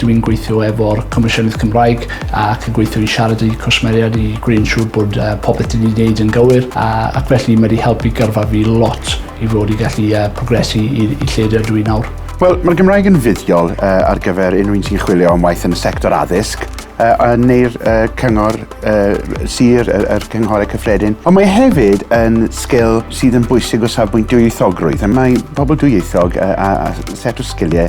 Dw i'n gweithio efo'r Comisiynydd Cymraeg ac yn gweithio i siarad â'u cwsmeriaid i greu'n siŵr bod uh, popeth dyn ni'n neud yn gywir a, ac felly mae wedi helpu gyrfa fi lot i fod i gallu uh, progresu i, i lle dydw i nawr. Wel, mae'r Gymraeg yn fuddiol uh, ar gyfer unrhyw un sy'n chwilio am waith yn y sector addysg, uh, neu'r uh, cyngor uh, sir, yr, er, er cynghorau cyffredin. Ond mae hefyd yn sgil sydd yn bwysig o safbwynt dwyieithogrwydd. Mae pobl dwyieithog uh, a, a set o sgiliau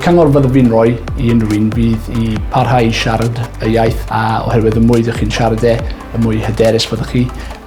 Cyngor fyddaf fi'n rhoi i unrhyw un fydd i parhau i siarad y iaith a oherwydd y mwy ydych chi'n siarad e, y mwy hyderus fyddwch chi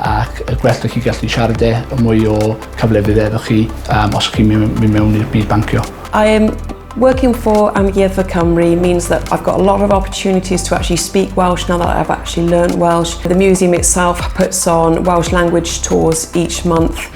ac y gwell ydych chi'n gallu siarad e, y mwy o cyfle fydd efo chi um, os chi'n mynd mewn i'r byd bancio. I am working for Amgueddfa Cymru means that I've got a lot of opportunities to actually speak Welsh now that I've actually learned Welsh. The museum itself puts on Welsh language tours each month.